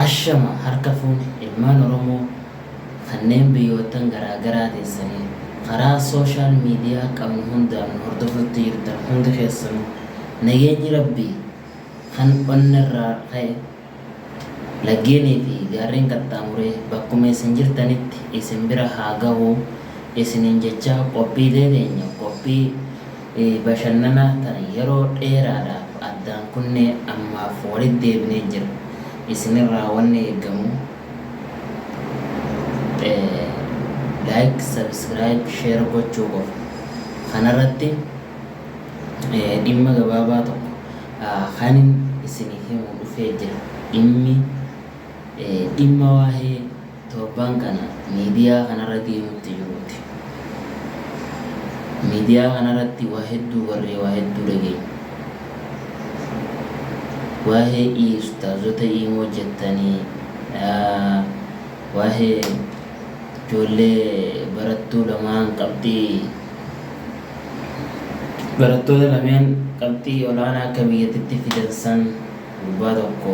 Ashama harka fuune ilmaan Oromoo kanneen biyyoottan garaa garaa teessanii karaa social media qabnu hundaan nu hordofutti jirtan hundi keessanu nageenyi Rabbii kan onnerraa ka'e laggeenii fi gaarreen qaxxaamuree bakkuma isin jirtanitti isin bira haa gahu isiniin jechaa qophiilee teenya qophii Bashannanaa tana yeroo dheeraadhaaf addaan kunnee ammaaf walitti deebinee jirra. Isinirraa wanni eegamu Like, Subscribe, Share gochuu qofa. Kanarratti dhimma gabaabaa tokko kanin isiniif himu dhufee jira. Dhimmi. Dhimma waahee torban kana miidiyaa kanarra deemutti jiruuti. Miidiyaa kanarratti waa hedduu barree waa hedduu dhageenye. Waahee i ustaazota iimoo jettanii waahee ijoollee barattuu lamaan qabxii barattoota lameen qabxii olaanaa akka biyyatitti fidan san Gurbaa tokko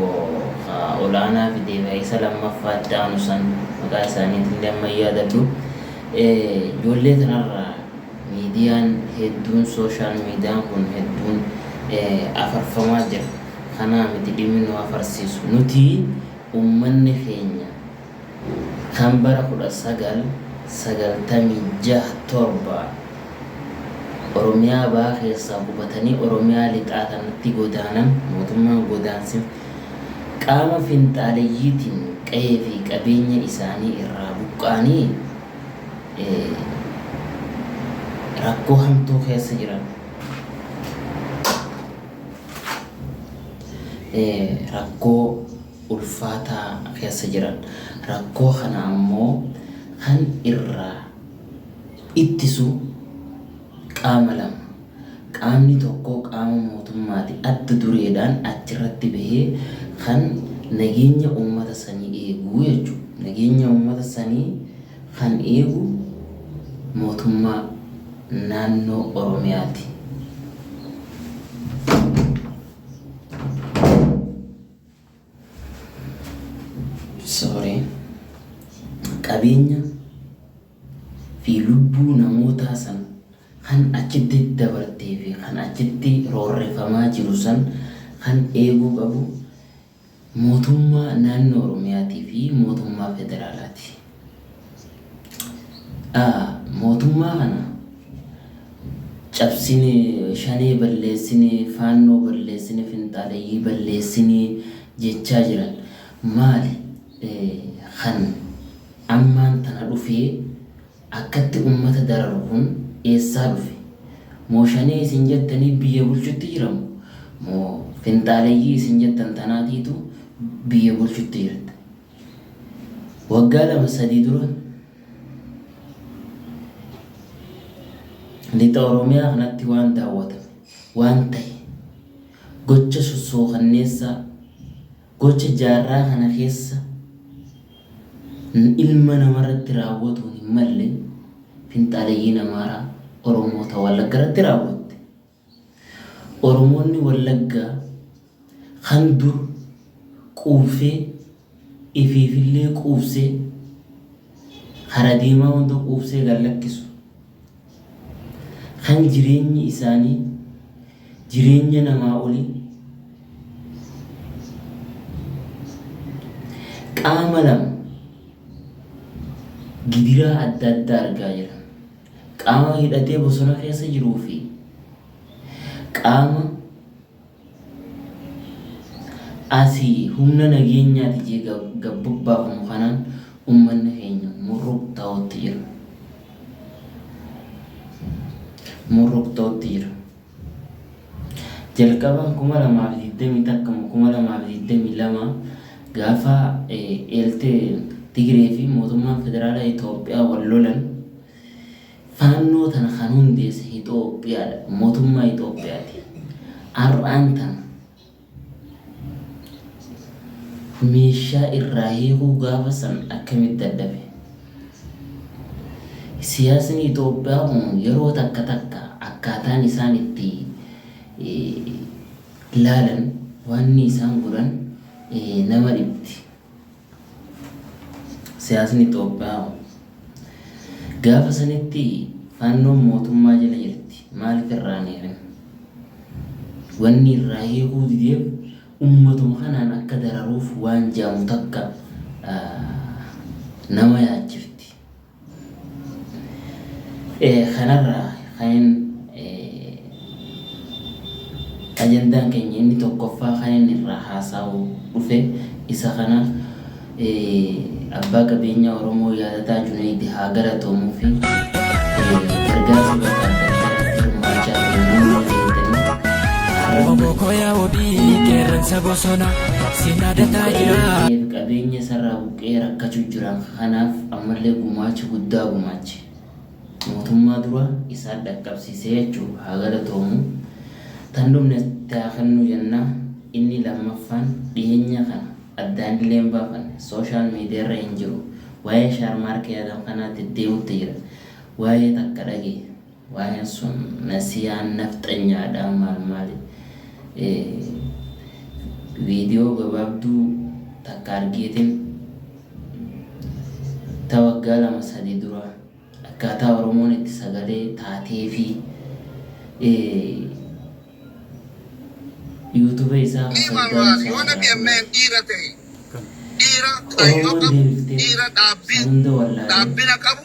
ka olaanaa fidee ka isa lammaffaa itti aanu san maqaa isaaniitillee amma hin yaadadhu. Ijoollee tanarra miidiyaan hedduun social median kun hedduun afarfamaa jira. Kanaa miti dhimmi nu afarsiisu. Nuti ummanni keenya. kan bara 1996 7 Oromiyaa Bahaa keessaa qubatanii Oromiyaa Lixaa kanatti godaanan mootummaan godaansi qaama finxaaleyyiitiin qa'ee fi qabeenya isaanii irraa buqqa'anii rakkoo hamtuu keessa jiran rakkoo ulfaataa keessa jiran. Rakkoo kana ammoo kan irraa ittisu qaama lama. Qaamni tokko qaama mootummaati adda dureedhaan achirratti bahee kan nageenya uummata sanii eegu jechuudha. Nageenya uummata sanii kan eegu mootummaa naannoo Oromiyaati. Sorry. Qabeenya fi lubbuu namootaa san kan achitti dabartee fi kan achitti roorrefamaa jiru san kan eeguu qabu mootummaa naannoo Oromiyaatii fi mootummaa federaalaati. Aa mootummaa kana cabsine shanee balleessine faannoo balleessine finxaaleyyii balleessine jechaa jiran maali kan ammaan tana dhufee akkatti ummata dararu kun eessaa dhufe moo shanee isin jettanii biyya bulchutti jiramu moo finxaaleyyii isin jettan tanaatiitu biyya bulchutti jirta. Waggaa lama sadii dura lixa Oromiyaa kanatti waan daawwatame, waan tahe, gocha sossookanneessaa, gocha jaarraa kana keessa ilma namarratti raawwatuun hin malle finxaaleyyiin Amaaraa Oromoota Wallaggarratti raawwatte. Oromoonni Wallaggaa kan dur quufsee ifiifillee quufsee kara deemaa hunda quufsee gad lakkisu, kan jireenyi isaanii jireenya namaa olii, qaama lama gidiraa adda addaa argaa jiran. Qaama hidhatee bosona keessa jiruu fi qaama asii humna nageenyaati jee gad bobbaafamu kanaan ummanni keenya murruqtaa'utti jira. Murruqtaa'utti jira. Jalqaba 2020 takkama 2022 gaafa eelte Tigree fi mootummaan federaalaa Itoophiyaa wal lolan faannoo tana kan hundeesse Itoophiyaadha. Mootummaa Itoophiyaati. Har'aan tana Meeshaa irraa hiikuu gaafa san akkamitti dadhabe? Siyaasni Itoophiyaa kun yeroo takka takka akkaataan isaan itti laalan, waanni isaan godhan nama dhibdi. Siyaasni Xoophiyaa hoo? Gaafa sanitti Faannoon mootummaa jala jirti maaliif irraa hin hiikin? Wanni irraa hiikuu dideef ummatuma kanaan akka dararuuf waan je'amu takka nama yaachifti. Kanarraa kanin ajandaan keenya inni tokkoffaa kan inni irraa haasa'u dhufe isa kana abbaa qabeenyaa Oromoo yaadataa Juneeydi haa galatoomuu fi gargaarsa bakka adda addaatti hirmaachaa jiru nama fayyadanii har'a Obokoo yaa wabii qeerransa bosona si yaadataa jira. qabeenya isarraa buqqee rakkachuu jiran Kanaaf ammallee gumaacha guddaa gumaache mootummaa dura isaan dhaqqabsiise jechuun haa galatoomu. Tan dhumne itti haa kennu jenna. Inni lammaffaan dhiheenya kana addaanillee hin baafanne social media irra hin jiru. Waa'ee shaarmaarkee Adam kanaa deddeemutti jira. Waa'ee takka dhagaye. Waayeen sun nasiyaan nafxanyaadha maal maali video gabaabduu takka argeetin ta waggaa lama sadii dura akkaataa oromoon itti sagalee taatee fi youtube isaa ka Iman fayyidaan maal isaa yoo irraa ture dhageenyeen dhiira ta'e dhiira oromoon kaayyoo qabu deebiftee dhiira dhaabbii hunda wallaalee dhaabbina qabu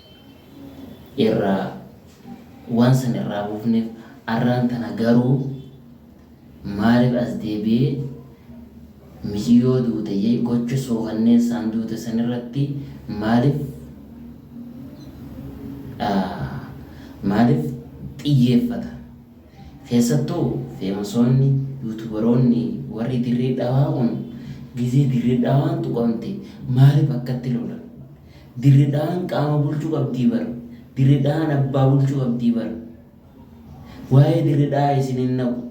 irraa waan san irraa buufneef arraan tana garuu maaliif as deebi'ee miciyyoo duute jee gocha suukanneessaan duute san irratti maaliif maaliif xiyyeeffata keessattuu feemasoonni yuutubaroonni warri dirree dhawaa kun gizee dirree dhawaan tuqamte maaliif akkatti lolan Dirre dhahaan qaama bulchu qabdii bar dirre dhahaan abbaa bulchu qabdii bar waa'ee dirre dhahaa isin hin naqu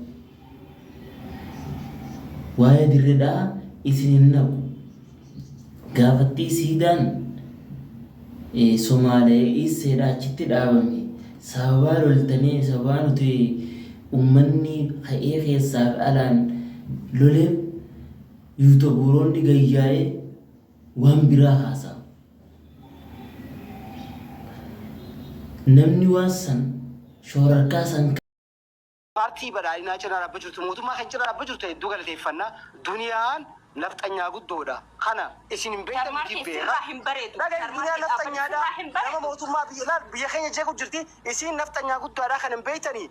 waa'ee dirre dhahaa isin hin naqu gaafattii siidaan eh, somaalee iisseedha achitti dhaabame sababaa loltanii sababaa nuti ummanni ka'ee keessaaf alaan loleef yuutobuuroonni gayyaa'ee waan biraa haasa'a. Namni waan san shoorarkaa san. Paartii Badhaadhinaa cinaa dhaabba jirtu mootummaa kan cinaa dhaabba jirtu hedduu galateeffanna. Duniyaan nafxanyaa guddoodha. Kana isin hin beektan nuti hin beekna. Dhagahi duniyaan nafxanyaadha. Nama mootummaa biyya laal biyya keenya jeequ jirti. Isiin nafxanyaa guddaadha kana hin beektanii.